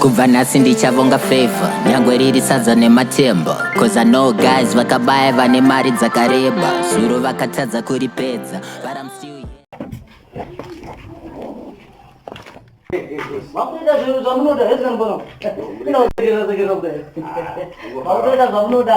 kubva nhasi ndichavonga favor nyangwe riri sadza nematemba cause i know guys vakabaya vane mari dzakareba zuro vakatadza kuripedza but i'm still Makuita zvinhu zvamunoda hezvinombona. Inokuita zvamunoda. Makuita zvamunoda.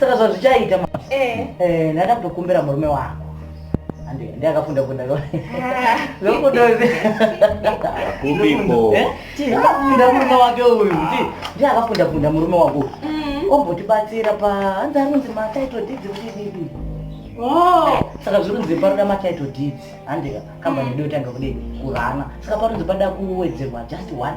saka zvazvichaita ma eh. eh, ndaenda kutokumbira murume wako ndiye akafunda kunda lokudoakafunda eh? murume wake uyu ndiye akafunda kunda murume wako uyu mm. ombotibatsira pa hanzi anonzi matitle deeds kudii oh. saka zvirunzi paroda matitle deeds handika kambani mm. dotanga kudei kurana saka parunzi pada kuwedzerwa just one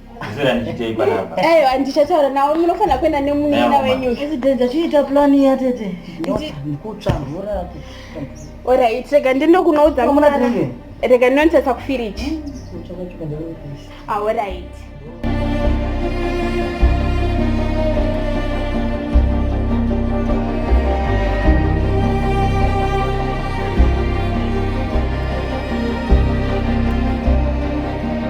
ayo andichataura nawo munofanira kuenda nemunina wenyu chiita plan ya tete kutsva mvura orit rega ndindokunoudza rega ndinonitasa kufiriji aorit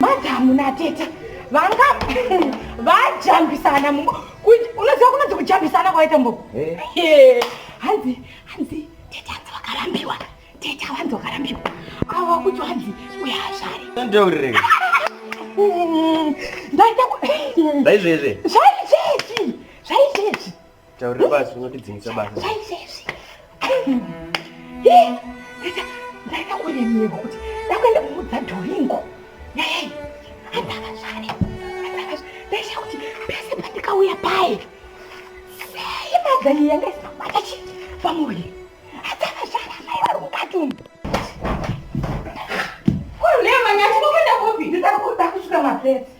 madamu natete vanga vajambisana unoziva kunonzi kujambisana kwaita mbo eh. hanzi hanzi tete hanzi vakarambiwa tete avanzi vakarambiwa ava kuti hanzi uyazvare ndaita zvaizvezve zvaizvezvi zvaizvezvi Taurira basi unotidzingisa basa. Ndakakuremerwa kuti ndakuenda kumudza Doringo. Nei? Andakazvare. Andakazvare. Ndaisha kuti pese pandikauya paye. Sei madzani yanga isina kubata chi pamuviri. Andakazvara mai vari mukati umu. Kurulema nyati kukwenda kupi? Ndikuda kusvika mapesi.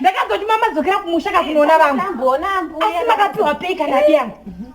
ndakazoti mamadzokera kumusha kakunoona vamwe asi makapiwa pei kana diyangu